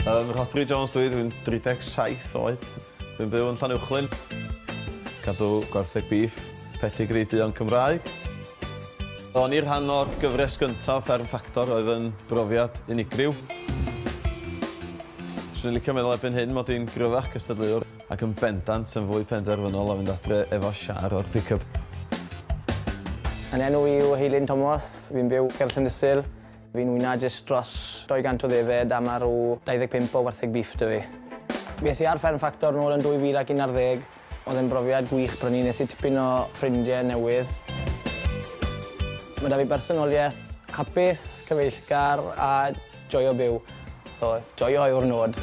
Ym Rhodri Jones dwi, dwi'n 37 oed. Dwi'n byw yn Llanuwchlyn. Cadw gwartheg bîff, pedigree duon Cymraeg. O'n i'r rhan o'r gyfres gyntaf Fferm Ffactor oedd yn brofiad unigryw. Swn i'n licio meddwl erbyn hyn mod i'n gryfach cystadleuwr. Ac yn bendant yn fwy penderfynol o fynd adre efo siar o'r pickup. Yn enw i yw Heilyn Tomos, fi'n byw ger Llandysul. Fi'n wyna jyst dros 200 o ddefed a ma' rw 25 o wartheg bîff 'da fi. Fi es i ar Fferm Ffactor nôl yn 2011, oedd e'n brofiad gwych prynu nes i tipyn o ffrindie newydd. Ma' 'da fi bersonolieth hapus, cyfeillgar a Joio byw. So, joio yw'r nod.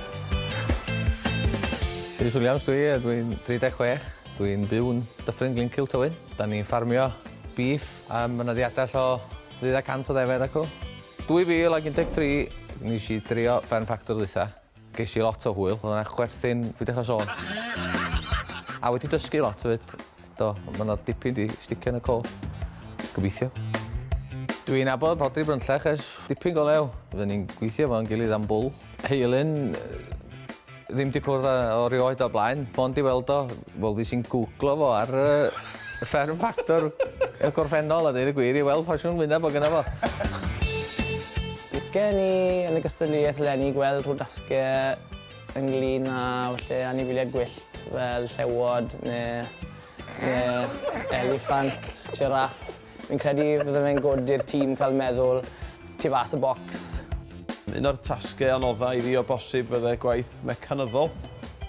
Rhys Williams dwi, a dwi'n 36. Dwi'n byw yn Dyffryn Glyn Cil Tywyn. Da ni'n ffarmio bîff a ma' 'na ddiadell o ddeuddeg cant o ddefed acw. 2013 nesh i drio Fferm Ffactor ddwytha. Ges i lot o hwyl, o'dd yna chwerthin, fi dechra sôn. A wedi dysgu lot 'fyd, do, ma' 'na dipyn 'di sticio yn y co. Gobeithio. Dwi'n nabod Rhodri Brynllach ers dipyn go lew. Fydden ni'n gweithio efo'n gilydd am bwl. Heilyn, ddim 'di cwrdd â o rioed o'r blaen, mond 'di weld o Wel fues i'n gwglo fo ar yy y fferm ffactor y gorffennol a deud y gwir i weld pa siwn wyneb o' gynno fo. Licen ni yn y gystadleuaeth leni gweld rho dasge ynglŷn â falle anifeiliaid gwyllt fel llewod ne' ne' eliffant, jiráff. Fi'n credu bydde fe'n gwd i'r tîm cael meddwl tu fas y bocs. Un o'r tasgau anodda i fi o bosib fydde gwaith mecanyddol,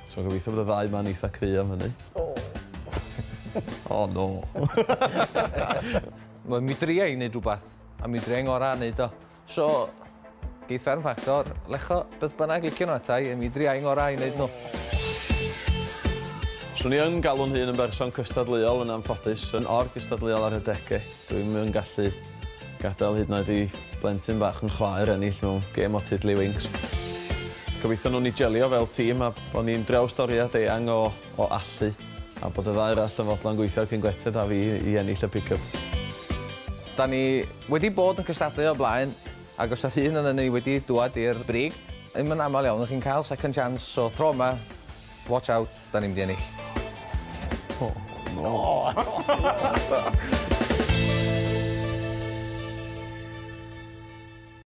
so gobeithio bod y ddau 'ma'n eitha cry am hynny. O! O no! Wel mi dria i neud rwbath, a mi dria i ngora neud o. So, geith Fferm Fachtor lecho beth bynnag licio nhw ata i, a mi dria i'n ngorau i wneud nhw. Swn i yn galw'n hun yn berson cystadleuol yn anffodus, yn or-gystadleuol ar adegau. Dwi'm yn gallu gadael hyd yn oed i blentyn bach fy chwaer ennill mewn gêm o Tiddlywinks. Gobeithio wnawn ni jelio fel tîm a bod ni'n drawstoriad eang o o allu, a bod y ddau arall yn fodlon gweithio cyn gwletydd da fi i ennill y pick-up. Da ni wedi bod yn cystadlu o'r blaen, ac os oedd un onon ni wedi dwad i'r brig, ddim yn aml iawn chi'n cael second chance, so tro yma, watch out, da ni'n mynd i ennill. O! O!